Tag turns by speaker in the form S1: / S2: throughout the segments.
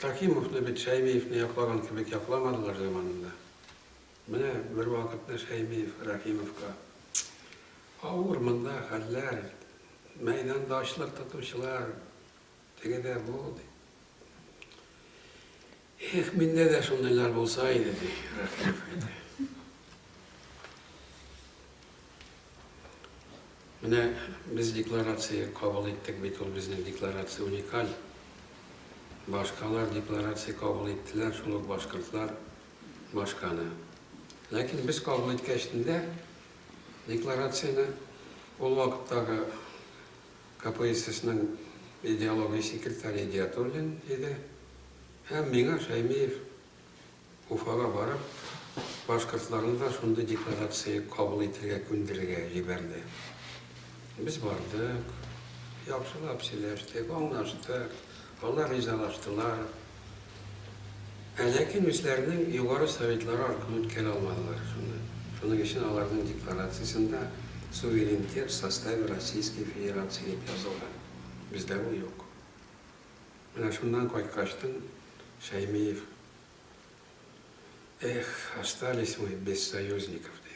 S1: Хәкимовны бит Шәймиевне яклаган кебек якламадылар заманында. Менә бер вакытны Шәймиев Рәхимовка авыр монда хәлләр, мәйданда ачлык тотучылар, Теге дә бу, ди. Эх, миндә дә шундыйлар булса иде, ди Рәхимов әйтә. Менә без декларация кабул иттек бит, ул безнең декларация уникаль. Башкалар декларация кабул иттеләр, шул ук башкортлар башканы. Ләкин без кабул иткәчтендә декларацияне ул вакыттагы КПССның идеология секретаре Идиатуллин иде. Һәм миңа Шәймиев Уфага барып, башкортларны да шундый декларация кабул итергә күндерергә җибәрде. Без бардык, яхшылап сөйләштек, аңлаштык. Алар ризалаштылар. Ә ләкин үзләренең югары советлары аркылы үткәрә алмадылар шуны. Шуның өчен аларның декларациясендә Суверенитет в составе Российской Федерации дип язылган. Бездә бу юк. Менә шуннан кайткачтын Шәймиев Эх, остались мы без союзников, диде.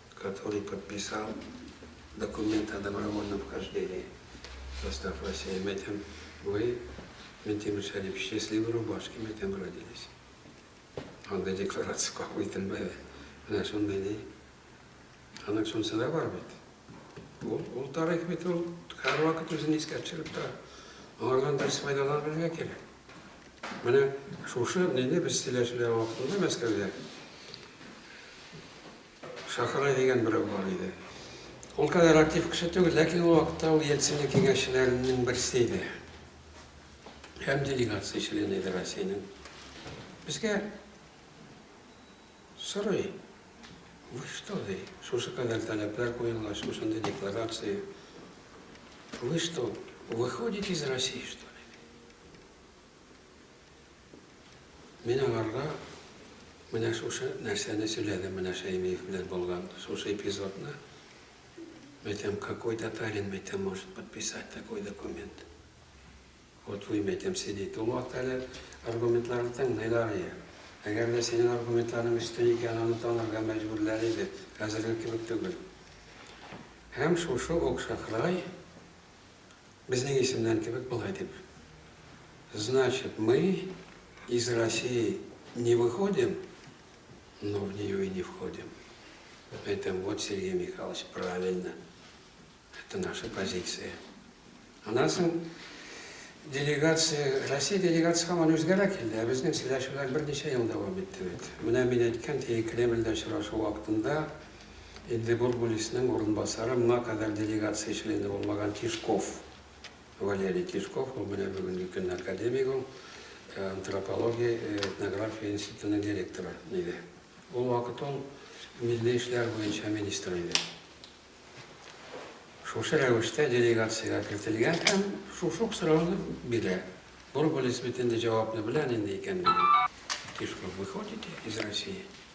S1: Который подписал документ о добровольном вхождении в состав России, мы тем, вы, Минтимер Шәрип, в счастливой рубашке мы тем родились. Андый декларация кабул ителмәде. Менә шундый ни. Аның шунысы да бар бит. Ул, ул тарих бит ул һәрвакыт үзен искә төшереп тора. Алардан дөрес файдаланып белергә кирәк. Менә шушы нинди без сөйләшүләр вакытында Мәскәүдә Шахрай дигән берәү бар иде. Ул кадәр актив кеше түгел, ләкин ул вакытта ул Ельцинның киңәшчеләреннән берсе иде һәм делегация члены иде Россиянең. Безгә сорый, вы что, ди, шушы кадәр таләпләр куелгач, шушындый декларация, вы что, выходите из России, что ли? Мин аңарга менә шушы нәрсәне сөйләдем, менә Шәймиев белән булган шушы эпизодны. Мәйтәм, какой татарин, мәйтәм, может подписать такой документ? Вот вы, мәйтәм, сидите. Ул вакыт әле аргументларны тыңлыйлар иде. Әгәр дә синең аргументларың өстен икән, аны танырга мәҗбүрләр иде, хәзерге кебек түгел. Һәм шушы ук Шахрай Безнең исемнән кебек болай дип Значит, мы из России не выходим, но в нее и не входим. Әйтәм, вот, Сергей Михайлович, правильно. Это наша позиция. Аннан соң делегация, Россия делегация һаман үзгәрә килде, ә безнең сөйләшүләр берничә ел дәвам итте бит. Менә мин әйткән теге Кремльдә очрашу вакытында Инде Гургулиснең урынбасары, моңа кадәр делегация члены булмаган Тишков, Валерий Тишков, ул менә бүгенге көнне академик ул, антропология, этнография институтының директоры иде. Ул вакыт ул милли эшләр буенча министр иде. Шушы рәвештә делегациягә кертелгән һәм шушы ук сорауны бирә. Гургулис бит инде җавапны белә, нинди икәнлеген. Тишков выходите из России?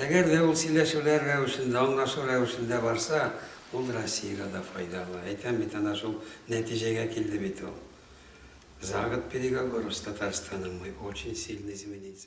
S1: Әгәр дә ул сөйләшүләр рәвешендә, аңлашу рәвешендә барса, ул Россиягә дә файдалы. Әйтәм бит, әнә шул нәтиҗәгә килде бит ул. За год переговоров с Татарстаном мы очень сильно изменились.